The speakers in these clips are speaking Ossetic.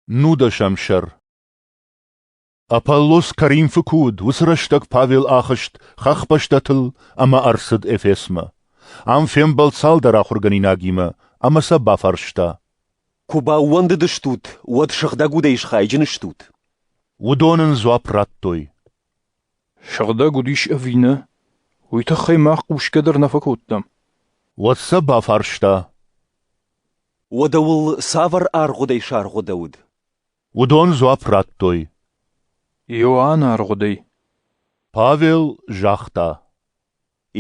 Нудӕсӕм сӕр Аполлос Коринфы куы уыд, уыцы рӕстӕг Павел ахызт хӕхбӕстӕтыл ӕмӕ ӕрцыд Эфесмӕ. Ам фембӕлд цалдӕр ахуыргӕнинагимӕ ӕмӕ сӕ бафарста. Куы баууӕндыдыстут, уӕд сыгъдӕг удӕй схайджын стут? Уыдон ын дзуапп радтой. Сыгъдӕг удис ӕви нӕ, уый тыххӕй мах хъусгӕ дӕр нӕ фӕкодтам. Уӕд сӕ бафарста. Уӕдӕ уыл цавӕр аргъуыдӕй саргъуыдӕуыд? Уыдон дзуапп радтой. Иоанн аргъуыдӕй. Павел загъта.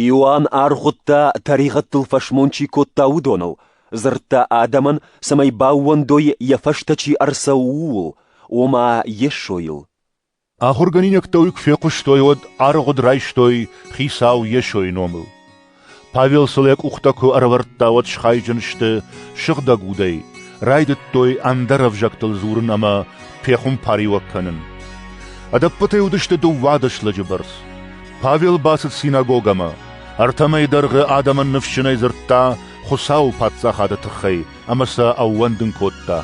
Иоанн аргъуыдта, тӕригъӕдтыл фӕсмон чи кодта, уыдоныл, дзырдта адӕмӕн, цӕмӕй баууӕндой, йӕ фӕстӕ чи ӕрцӕуы, ууыл, ома Йесойыл. Ахуыргӕнинӕгтӕ уый куы фехъуыстой, уӕд аргъуыд райстой Хицау Йесойы номыл. Павел сыл йӕ къухтӕ куы ӕрӕвӕрдта, уӕд схайджын сты сыгъдӕг удӕй, райдыдтой ӕндӕр ӕвзӕгтыл дзурын ӕмӕ пехуымпариуӕг кӕнын. Ӕдӕппӕтӕй уыдысты дыууады слӕджы бӕрц. Павел бацыд синагогӕмӕ, ӕртӕмӕй дӕргъы адӕмӕн ныфсджынӕй дзырдта Хуыцауы Паддзахады тыххӕй ӕмӕ сӕ ӕууӕндын кодта.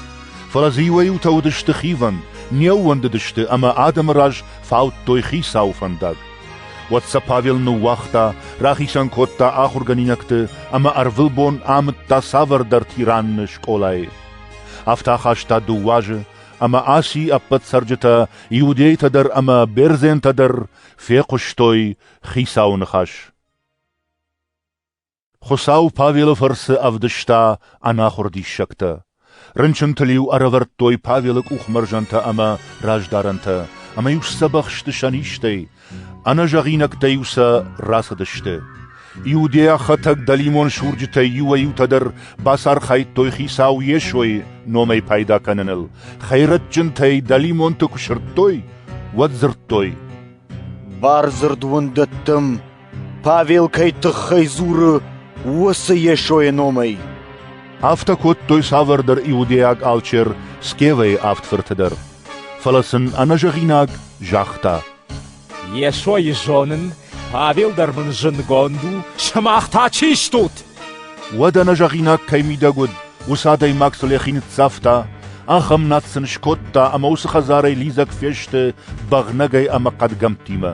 Фӕлӕ дзы иуӕй-иутӕ уыдысты хивӕнд, не ууӕндыдысты ӕмӕ адӕмы раз фаудтой хицауы фӕндаг. Уӕд сӕ Павел ныууагъта, рахицӕн кодта ахуыргӕнинӕгты ӕмӕ ӕрвылбон амыдта цавӕрдӕр тиранны скъолайы. Афтӕ ахаста дыууӕ азы, ӕмӕ Аси ӕппӕт цӕрджытӕ, иудейтӕ дӕр ӕмӕ бердзентӕ дӕр фехъуыстой хицауы ныхас. Хуыцау Павелы фӕрцы ӕвдыста ӕнахуыр диссӕгтӕ. Рынчынтыл-иу ӕрӕвӕрдтой Павелы къухмӕрзӕнтӕ ӕмӕ раздарӕнтӕ, ӕмӕ-иу сдзӕбӕх сты сӕ низтӕй, ӕнӕзӕгъинӕгтӕ-иу сӕ рацыдысты. Иудейӕхӕтӕг дӕлимон сурджытӕй иуӕй-иутӕ дӕр бацархайдтой Хицау Йесойы номӕй пайда кӕныныл, хӕйрӕджджынтӕй дӕлимонты куы сырдтой, уӕд дзырдтой: «Бардзырд уын дӕттӕм, Павел кӕй тыххӕй дзуры, уыцы Йесойы номӕй. Афтӕ кодтой цавӕрдӕр иудейаг алчер Скевайы авд фырты дӕр. Фӕлӕ сын ӕнӕзӕгъинаг загъта: Йесойы зонын, Павел дӕр мын зындгонд у, сымах та чи стут? Уӕд ӕнӕзӕгъинаг кӕй мидӕг уыд, уыцы адӕймаг сыл йӕхи ныццавта, ахӕм над сын скодта ӕмӕ уыцы хӕдзарӕй лидзӕг фесты бӕгънӕгӕй ӕмӕ хъӕдгӕмттимӕ.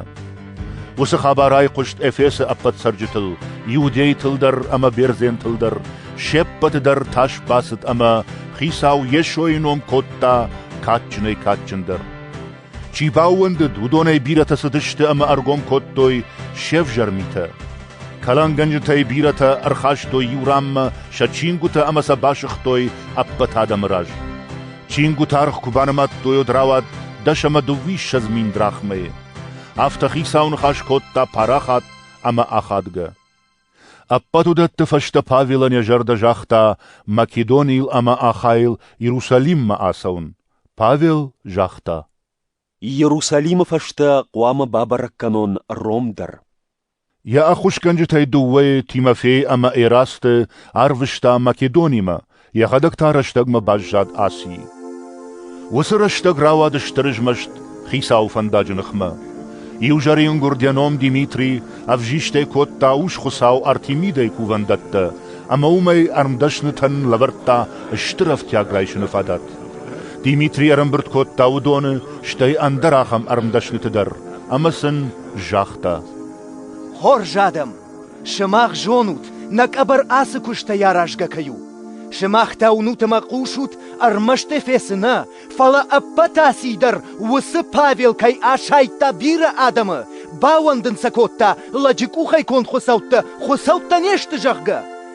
Уыцы хабар айхъуыст Эфесы ӕппӕт цӕрджытыл, иудейтыл дӕр ӕмӕ бердзентыл дӕр, се ппӕты дӕр тас бацыд ӕмӕ Хицау Йесойы ном кодта кадджынӕй кадджындӕр. Чи баууӕндыд, уыдонӕй бирӕтӕ цыдысты ӕмӕ ӕргом кодтой се взӕр митӕ. Кӕлӕнгӕнджытӕй бирӕтӕ ӕрхастой иу ранмӕ сӕ чингуытӕ ӕмӕ сӕ басыгътой ӕппӕт адӕмы раз. Чингуыты аргъ куы банымадтой, уӕд рауад дӕс ӕмӕ дыууиссӕдз мин драхмӕйы. Афтӕ хицау ныхас кодта парахат ӕмӕ ахадгӕ. Ӕппӕт уыдӕтты фӕстӕ Павелӕн йӕ зӕрдӕ загъта Македонийыл ӕмӕ Ахайыл Иерусалиммӕ ацӕуын. Павел загъта: Иерусалимы фӕстӕ хъуамӕ бабӕрӕг кӕнон Ром дӕр. Йӕ ӕххуысгӕнджытӕй дыууӕйы Тимофей ӕмӕ Эрасты арвыста Македонимӕ, йӕхӕдӕг та рӕстӕгмӕ баззад Асийы. Уыцы рӕстӕг рауад стыр ызмӕст хицауы фӕндаджы ныхмӕ. Иу зӕрин гуырд йӕ ном Димитри ӕвзистӕй кодта ус-хуыцау Артемидӕйы кувӕндӕттӕ ӕмӕ уымӕй ӕрмдӕснытӕн лӕвӕрдта стыр ӕфтиаг райсыны фадат. Димитри ӕрӕмбырд кодта уыдоны, стӕй ӕндӕр ахӕм ӕрмдӕсныты дӕр, ӕмӕ сын загъта. Хорз адӕм, сымах зонут, нӕ къӕбӕр ацы куыстӕй аразгӕ кӕй у. Сымах та уынут ӕмӕ хъусут ӕрмӕст Эфесы нӕ, фӕлӕ ӕппӕт Асийы дӕр, уыцы Павел кӕй асайдта бирӕ адӕмы, бауӕндын сӕ кодта, лӕджы къухӕй конд хуыцӕуттӕ хуыцӕуттӕ не сты, зӕгъгӕ.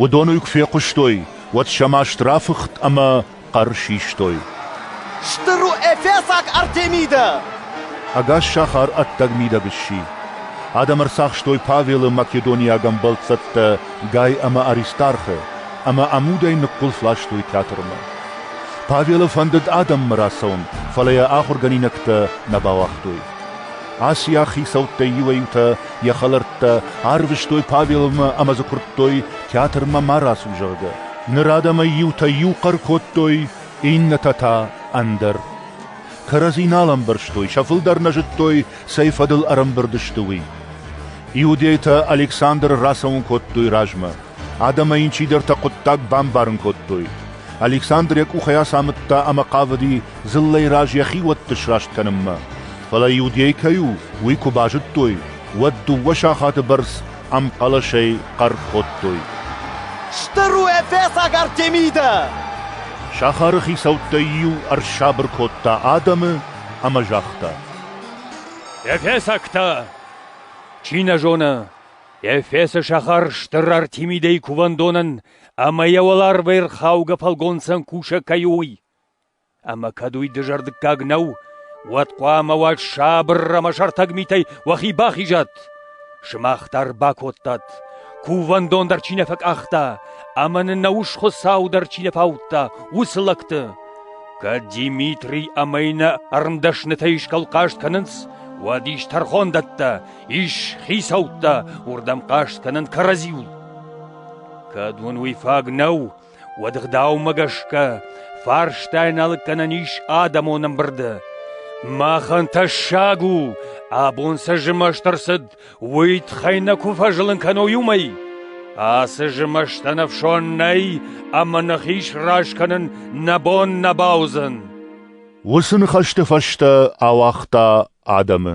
Уыдон уый куы фехъуыстой, уӕд сӕ маст рафыхт ӕмӕ хъӕр систой. Стыр у эфесаг Артемидӕ! Ӕгас сахар ӕддӕг мидӕг сси. Адӕм ӕрцахстой Павелы македониаг ӕмбӕлццӕттӕ Гай ӕмӕ Аристархы ӕмӕ ӕмудӕй ныхъхъуылф ластой театрмӕ. Павелы фӕндыд адӕммӕ рацӕуын, фӕлӕ йӕ ахуыргӕнинӕгтӕ нӕ бауагътой. Аци ӕхецӕуттӕй иуӕй-еутӕ йӕ хӕлӕрттӕ арвыстой Павелмӕ ӕмӕ дзы куырдтой, театрмӕ ма рацу, зӕгъгӕ. Ныр адӕмӕй иутӕ иу хъӕр кодтой, иннӕтӕ та — ӕндӕр. Кӕрӕдзи нал ӕмбӕрстой, сӕ фылдӕр нӕ зыдтой, цӕй фӕдыл ӕрӕмбырд сты, уый. Иудейтӕ Александры рацӕуын кодтой размӕ. Адӕмӕй ын чидӕртӕ хъуыддаг бамбарын кодтой. Александр йӕ къухӕй ацамыдта ӕмӕ хъавыди дзыллӕйы раз йӕхи уӕтты сраст кӕнынмӕ. Фӕлӕ иудей кӕй у, уый куы базыдтой, уӕд дыууӕ сахаты бӕрц ӕмхъӕлӕсӕй хъӕр кодтой. Стыр у ӕппӕсаг Артемидӕ! Сахары хицӕуттӕй иу ӕрсабыр кодта адӕмы ӕмӕ загъта. Эфесӕгтӕ! Чи нӕ зоны, Эфесы сахар стыр Артемидӕйы кувӕндонӕн ӕма йӕ уӕларвӕй рхаугӕ фӕлгонцӕн кусӕг кӕй у, уый. Ӕмӕ кӕд уый дызӕрдыггаг нӕу, уӕд хъуамӕ уӕ сабыр ӕмӕ сӕртӕг митӕй уӕхи бахизат. Сымах дӕр бакодтат, кувӕндон дӕр чи нӕ фӕкъахта ӕмӕ нын нӕ ус Хуыцау дӕр чи нӕ фаудта, уыцы лӕгты. Кӕд Димитри ӕмӕ иннӕ ӕрмдӕснытӕ исгӕлхъаст кӕнынц, уӕд ис тӕрхондӕттӕ, ис хицӕуттӕ, уырдӕм хъаст кӕнын кӕрӕдзиуыл. Кӕд уын уый фаг нӕу, уӕд ӕгъдаумӕ гӕсгӕ фарстайы налыг гӕнӕн ис адӕмон ӕмбырды. Махӕн тӕссаг у, абон цы змӕст ӕрцыд, уый тыххӕй нӕ куы фӕзылын кӕной уымӕй. Ацы змӕстӕн ӕфсон нӕй, ӕмӕ нӕхи сразы кӕнын нӕ бон нӕ бауыдзӕн. Уыцы ныхӕсты фӕстӕ ауагъта адӕмы.